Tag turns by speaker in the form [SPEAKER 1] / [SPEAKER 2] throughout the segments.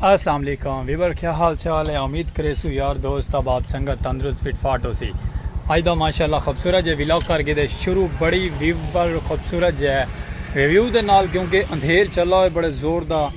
[SPEAKER 1] السلام علیکم ویور کیا حال چال ہے امید کرے سو یار دوست اب آپ سنگت تندرست فٹ فاٹ ہو سی آج دا ماشاءاللہ خوبصورت جے ویلوگ کر کے دے شروع بڑی ویور خوبصورت جے ہے ریویو دے نال کیونکہ اندھیر چلا ہوئے بڑے زور دا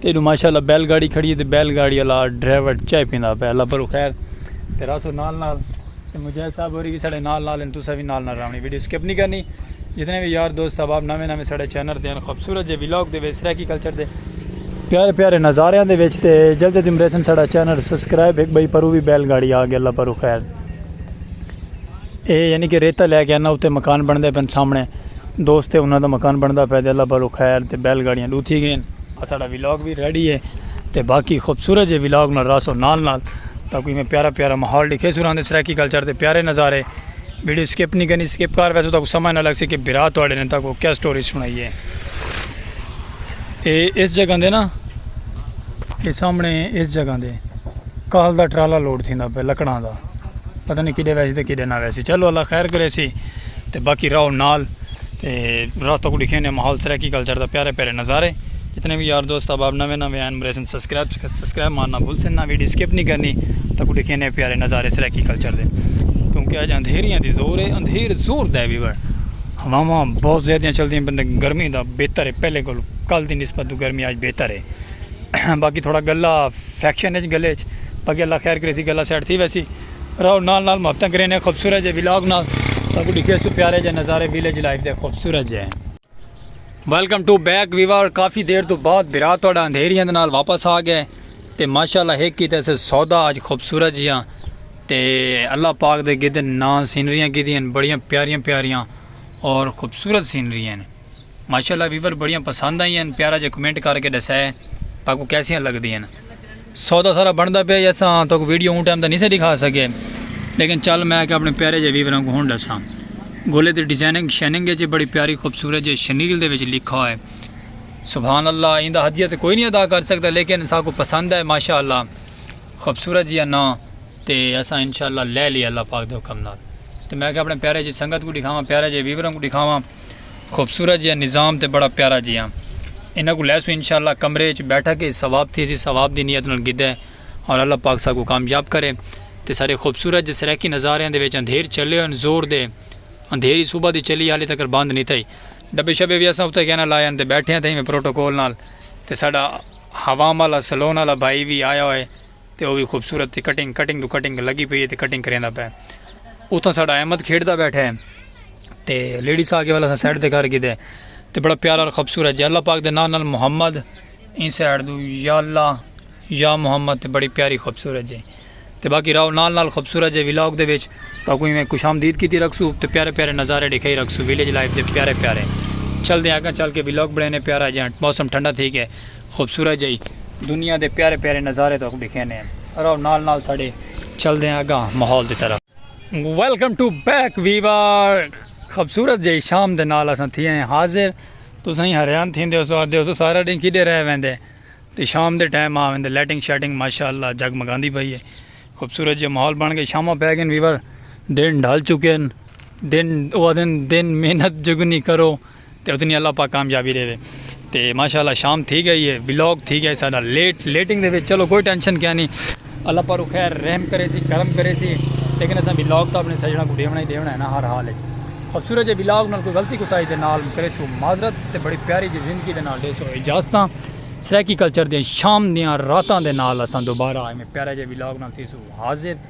[SPEAKER 1] تے ایڈو ماشاء اللہ بیل گاڑی کھڑی ہے تے بیل گاڑی والا ڈرائیور چائے پیندا پیا اللہ پرو خیر تے راسو نال نال تے مجاہد صاحب ہوری بھی ساڈے نال نال ہیں تسا بھی نال نال راونی ویڈیو سکپ نہیں کرنی جتنے بھی یار دوست احباب نویں نویں ساڈے چینل تے ہیں خوبصورت جے ولاگ دے وچ سرائیکی کلچر دے پیارے پیارے نظاریاں دے وچ تے جلدی تم ریسن ساڈا چینل سبسکرائب ایک بھائی پرو بھی بیل گاڑی آ گیا اللہ پرو خیر اے یعنی کہ ریتہ لے کے انہاں اتے مکان بنڑدے پن سامنے دوست ہے انہاں دا مکان بنڑدا پے تے اللہ پالو خیر تے بیل گاڑیاں ڈو تھی گئین اساڈا ولاگ وی ریڈی ہے تے باقی خوبصورت جے ولاگ نال راسو نال نال تاکہ میں پیارا پیارا ماحول ڈیکھے سو راندے سرائیکی کلچر تے پیارے نظارے ویڈیو سکپ نہیں کرنی سکپ کار ویسو تاکہ سمجھ نہ لگ سی کہ بھرا تواڈے نے تاکہ کیا سٹوری سنائی ہے اے اس جگہ دے نا اے سامنے اس جگہ دے کال دا ٹرالا لوڈ تھیندا پے لکڑاں دا پتہ نہیں کدے ویسی تے کدے نہ ویسی چلو اللہ خیر کرے سی تے باقی راہو نال تے راہ تک ڈکھے نے ماحول سرائیکی کلچر دا پیارے پیارے نظارے جتنے بھی یار دوست احباب نوے نوے ہیں مریسن سبسکرائب سبسکرائب مارنا بھول سن نہ ویڈیو سکپ نہیں کرنی تک ڈکھے نے پیارے نظارے سرائیکی کلچر دے کیونکہ اج اندھیریاں دی زور ہے اندھیر زور دے بھی بڑ ہواواں بہت زیادہ چلدی ہیں بندے گرمی دا بہتر ہے پہلے کل کل دی نسبت گرمی اج بہتر ہے باقی تھوڑا گلا سیکشن اچ گلے اچ پگے اللہ خیر کریسی گلا سیٹ تھی ویسی رہو نال نال محبتاں کرینے خوبصورت جے ویلاگ نال تاکو ڈکھے سو پیارے جے نظارے ویلیج لائف دے خوبصورت جے ویلکم ٹو بیک ویور کافی دیر تو بعد برا تہاڈا اندھیریاں دے نال واپس آ گئے تے ماشاءاللہ ہک کیتے سے سودا اج خوبصورت جیاں تے اللہ پاک دے گدن ناں سینریاں کیتیاں بڑیاں پیاریاں پیاریاں اور خوبصورت سینریاں ماشاءاللہ ویور بڑیاں پسند آئی ہیں پیارا جے کمنٹ کر کے ڈسا ہے تاکہ کو کیسیاں لگ دی ہیں سودا سارا بندا پہ یا سا تو کو ویڈیو اون ٹائم دا نہیں سے دکھا سکے لیکن چل میں کہ اپنے پیارے جے ویور کو ہون ڈسا گولے دی ڈیزائننگ شیننگ ہے جے بڑی پیاری خوبصورت جے شنیل دے وچ لکھا ہے سبحان اللہ ایندا دا حدیت کوئی نہیں ادا کر سکتا لیکن سا کو پسند ہے ماشاءاللہ خوبصورت جی نا تے اسا انشاءاللہ لے لیا اللہ پاک دے حکم نال تے میں کہ اپنے پیارے جی سنگت کو دکھاواں پیارے جی ویوراں کو دکھاواں خوبصورت جیہا نظام تے بڑا پیارا جیہا انہاں کوں لیسوں انشاءاللہ کمرے اچ بیٹھا کے ثواب تھی اسی ثواب دی نیت نال گھدے اور اللہ پاک ساکوں کامیاب کرے تے سارے خوبصورت جے سرائیکی نظاریاں دے وچ اندھیر چلے ہوئن زور دے اندھیر ہی صبح دی چلی حالی تکر بند نی تھئی ڈبے شبے وی اساں اتے گینا لائے ہن تے بیٹھے ہاں تھئی میں پروٹوکول نال تے ساڈا حوام آلا سلون آلا بھائی وی آیا ہوئے تے او وی خوبصورت تے کٹنگ کٹنگ ڈو کٹنگ لگی پئی ہے تے کٹنگ کریندا پئے اتھاں ساڈا احمد کھیڈدا بیٹھا ہے تے لیڈیز آ کے والا اساں سائیڈ تے کر گھدے تے بڑا پیارا اور خوبصورت جے اللہ پاک دے ناں نال محمد این سائیڈ دو یا اللہ یا محمد تے بڑی پیاری خوبصورت جے تے باقی راو نال نال خوبصورت جے ولاگ دے وچ تاکو ایویں خوش آمدید کیتی رکھسو تے پیارے پیارے نظارے ڈکھائی رکھسو ویلیج لائف دے پیارے پیارے چلدے آں اگاں چل کے ولاگ بنینے پیارا جیاں موسم ٹھنڈا تھی گئے خوبصورت جئی دنیا دے پیارے پیارے نظارے تہاکوں ڈکھینے ہن رہو نال نال ساڈے چلدے ہیں اگاں ماحول دی طرف۔ ویلکم ٹو بیک ویور خوبصورت جئی شام دے نال اساں تھی ہیں حاضر تساں ہی حیران تھیندے ہوسو آکھدے ہوسو سارا ڈینہہ کیڈے رہ ویندے تے شام دے ٹائم آ ویندے لائٹنگ شائٹنگ ماشاءاللہ جگمگاندی پئی ہے خوبصورت جیا ماحول بن گئے شاماں پے گئن ویور دن ڈھل چکے ہن دن اوہ آکھدے ہن دن محنت جگنی کرو۔ تے اتنی اللہ پاک کامیابی ڈیوے تے ماشاءاللہ شام تھی گئی ہے ولاگ تھی گیا ہے ساڈا لیٹ لیٹنگ دے وچ چلو کوئی ٹینشن کیا نہیں اللہ پاک رو خیر رحم کرے سی کرم کرے سی لیکن اساں ولاگ تو اپنے سجنا کو ڈیونا ہی ڈیونا ہے نا ہر حال ہے خوبصورت جے ولاگ نال کوئی غلطی کوتاہی دے نال کرے سو معذرت تے بڑی پیاری جی زندگی دے نال دے سو اجازتاں سرائیکی کلچر دے شام دیاں راتاں دے نال اساں دوبارہ ایویں پیارے جے ولاگ نال تھی سو حاضر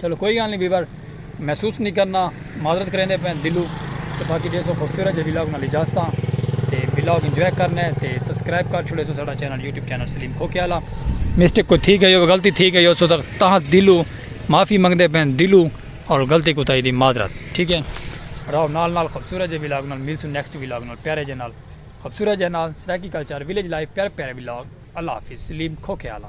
[SPEAKER 1] چلو کوئی گال نی ویور محسوس نی کرنا معذرت کریندے پین دلو تے باقی جیسو خوبصورت جے ولاگ نال اجازت ہاں تے ولاگ انجوائے کرنا ہے تے سبسکرائب کر چھوڑے سو ساڈا چینل یوٹیوب چینل سلیم کھوکے والا مسٹیک کوئی تھی گئی ہو غلطی تھی گئی ہو سو تاں دلو معافی منگدے پین دلو اور غلطی کو تائی دی معذرت ٹھیک ہے راو نال نال خوبصورت جے ولاگ نال مل سو نیکسٹ ولاگ نال پیارے جے نال خوبصورت جے نال سرائیکی کلچر ویلیج لائف پیارے پیارے ولاگ اللہ حافظ سلیم کھوکے والا